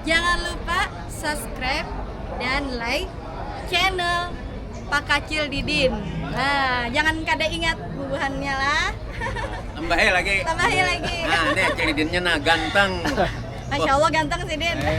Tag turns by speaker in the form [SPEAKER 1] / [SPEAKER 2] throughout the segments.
[SPEAKER 1] Jangan lupa subscribe dan like channel Pakacil Didin. Nah, jangan kada ingat bubuhannya lah. Tambahi lagi. Tambahi lagi. Nah, ini Cil Didinnya nah ganteng. Masya Allah ganteng sih Din. Eh.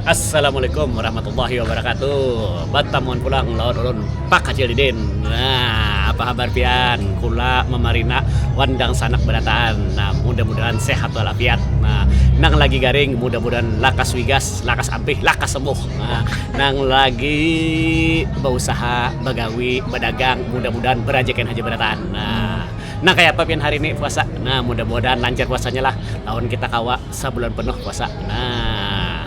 [SPEAKER 1] Assalamualaikum warahmatullahi wabarakatuh Batamuan pulang lawan ulun Pak Acil Didin Nah apa habar pian kula mamarina wan dangsanak barataan nah mudah mudahan sehat wal afiat nah nang lagi garing mudah mudahan lakas wigas lakas ampih lakas sembuh nah nang lagi bausaha bagawi badagang mudah mudahan barajakian haja barataan nah nang kaya apa pian hari ni puasa nah mudah mudahan lancar puasanyalah lawan kita kawa Sabulan penuh puasa. Nah,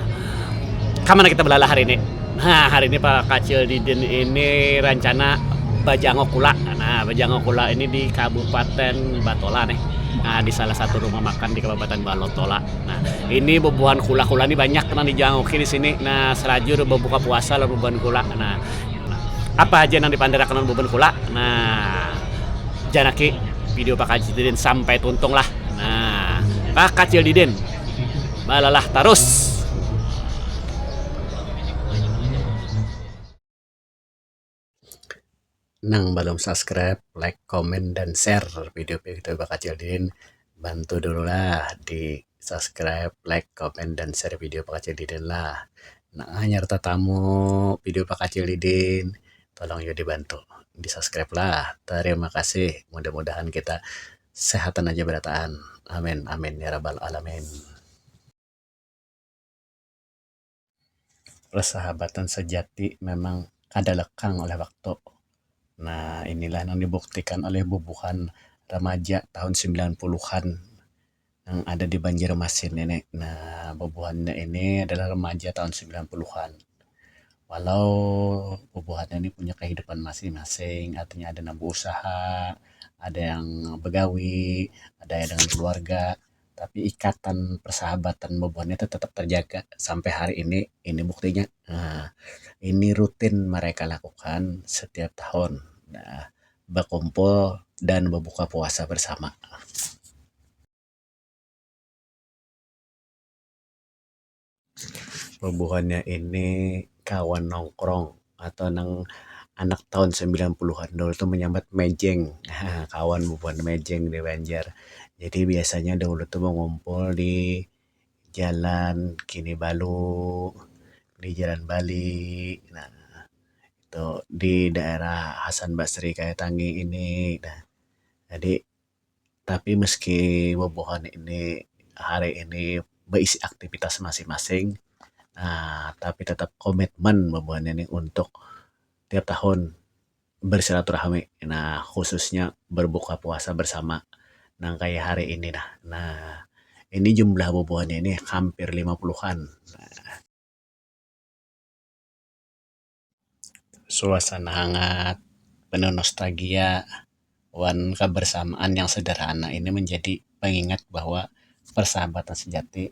[SPEAKER 1] kamana kita belalah hari ini? Nah, hari ini para kacil didin ini rancana bajangok kula. Nah, bajangok kula ini di Kabupaten Batola nih. Nah, di salah satu rumah makan di Kabupaten Balotola. Nah, ini bubuhan kula-kula nih banyak nang dijangoki di sini. Nah, salajur babuka puasa lawan bubuhan kula. Nah, apa haja nang dipanderakan lawan bubuhan kula? Nah, janaki video para kacil didin sampai tuntung lah. Nah, ka kacil didin balalah tarus. Nang balum subscribe, like, comment, dan share video kita bakacil didin bantu dulu lah di subscribe, like, comment, dan share video bakacil didin lah. Nang hanyar tatamu video bakacil didin tolong jua dibantu di subscribe lah tarima kasih mudah mudahan kita sehatan aja berataan amin amin ya rabbal alamin persahabatan sejati memang kada lekang oleh waktu nah inilah nang dibuktikan oleh bubuhan remaja tahun sembilan puluhan. nang ada di Banjarmasin ini. Nah, bubuhannya ini adalah remaja tahun sembilan puluhan. Walau bubuhannya ini punya kehidupan masing-masing, artinya ada nang beusaha, ada yang begawi, ada yang dengan keluarga, tapi ikatan persahabatan bubuhan itu tetap terjaga sampai hari ini. Ini buktinya. Nah, ini rutin mereka lakukan setiap tahun. Nah. bakumpul dan babuka puasa bersama. Bubuhannya ini kawan nongkrong atau nang anak tahun sembilan puluhan dahulu tu manyambat mejeng. Kawan bubuhan mejeng di Banjar. Jadi biasanya dahulu tu bakumpul di. Jalan Kinibalu, di Jalan Bali, nah itu di daerah Hasan Basri kaya tangi ini nah. Jadi tapi meski bubuhan ini hari ini beisi aktivitas masing-masing aaa tapi tetap komitmen bubuhan ini untuk tiap tahun. bersilaturahmi nah khususnya berbuka puasa bersama nang kaya hari ini nah nah ini jumlah bubuhannya ini hampir lima puluhan nah suasana hangat penuh nostalgia wan kebersamaan yang sederhana ini menjadi pengingat bahwa persahabatan sejati.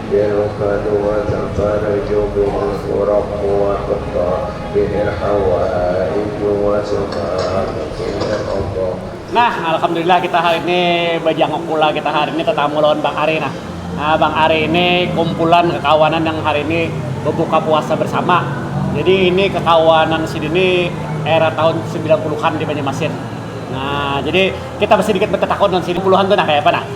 [SPEAKER 1] Dinuh kadua tapada jua bini kurang kuat betul, bihir Hawa ai jua sudah bapindah ogoh. Nah, alhamdulillah kita hari ini bajanguk pula kita hari ini tatamu lawan Bang Ari nah. Nah, Bang Ari ini kumpulan kakawanan yang hari ini babuka puasa bersama. Jadi ini kakawanan sidin ni era tahun sembilan puluhan di Banjarmasin. Nah, jadi kita basidikit batatakun lawan sidin puluhan tu nah kayapa nah.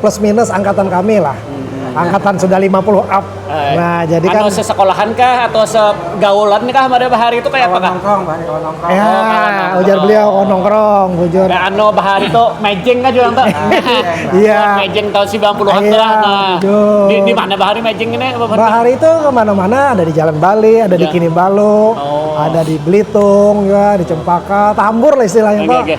[SPEAKER 1] plus minus angkatan kami lah angkatan sudah lima puluh up eh. nah jadi kan atau sesekolahan kah atau segaulan kah pada bahari itu kayak apa kah nongkrong banyak nongkrong ya oh, ujar beliau oh, nongkrong bujur nah anu bahari itu mejeng kan juga tuh iya mejeng tahun 90-an iya, lah nah di, di mana bahari mejeng ini bahari itu kemana-mana ada di Jalan Bali ada di iya. Kinibalu oh. ada di Belitung ya di Cempaka Tambur lah istilahnya okay, pak okay.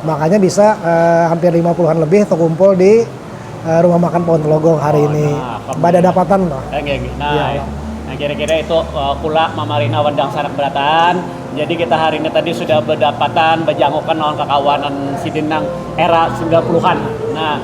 [SPEAKER 1] Makanya bisa hampir lima puluh an lebih tekumpul di Rumah Makan Pohon Telogong hari oh, ini. Nah, Badadapatan loh. Nah, ya, ya. Nah, kira-kira itu uh, kula mamarina wandang sanak berataan. Jadi kita hari ini tadi sudah berdapatan, berjangukan lawan kakawanan sidin nang era 90-an. Nah,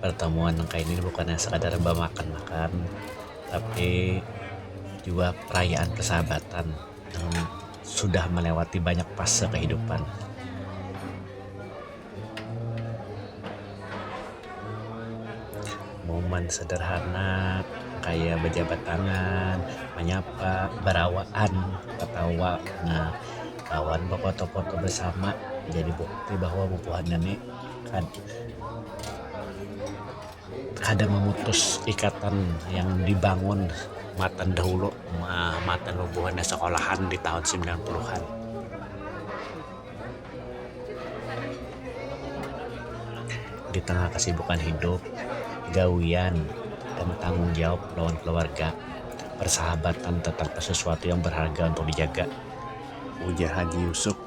[SPEAKER 1] pertemuan nang kaya gini bukan hanya sekadar bamakan-makan tapi jua perayaan persahabatan yang sudah melewati banyak fase kehidupan. Momen sederhana kaya bejabat tangan, menyapa, berawaan, ketawa, lawan befoto-foto bersama jadi bukti bahwa bubuhan ini. Kada mamutus ikatan yang dibangun matan dahulu matan bubuhannya sekolahan di tahun similan puluhan. Di tengah kesibukan hidup, gawian dan tanggung jawab lawan keluarga, persahabatan tatap sesuatu yang berharga untuk dijaga, ujar Haji Yusuf.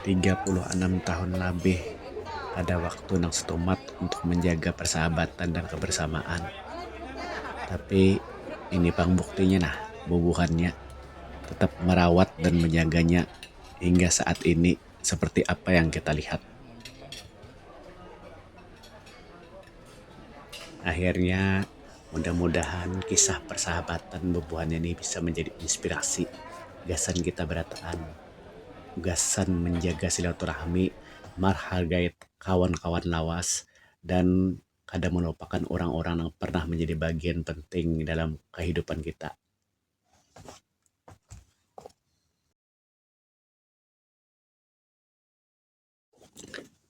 [SPEAKER 1] Tiga puluh anam tahun labih ada waktu nang setumat untuk menjaga persahabatan dan kebersamaan. Tapi ini pang buktinya nah bubuhannya tetap merawat dan menjaganya hingga saat ini seperti apa yang kita lihat. Akhirnya, mudah-mudahan kisah persahabatan bubuhan ini bisa manjadi inspirasi gasan kita barataan gasan manjaga silaturahmi, marhargai kawan-kawan lawas, dan kada malupakan urang-urang nang parnah manjadi bagian penting dalam kahidupan kita.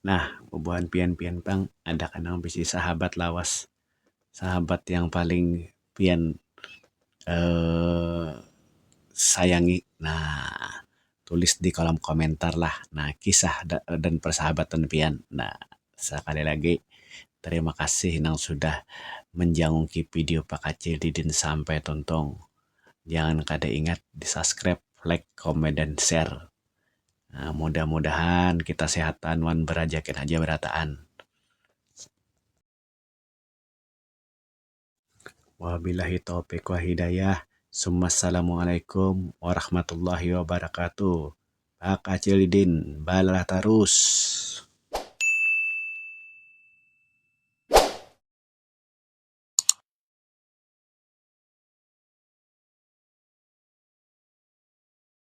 [SPEAKER 1] Nah, bubuhan pian-pian pang ada kah nang bisi sahabat lawas? Sahabat yang paling pian sayangi? Nah, tulis di kolom komentar lah nah kisah dan persahabatan pian. Nah, sakali lagi terima kasih nang sudah manjangungki video Pakcil Didin sampai tuntung. Jangan kada ingat di subscribe, like, comment, dan share. Nah, mudah-mudahan kita sehatan wan berajakin aja berataan. Wabillahi taufiq wa hidayah. Summassalamualaikum warahmatullahi wabarakatuh. Pak Acil Didin, balalah tarus.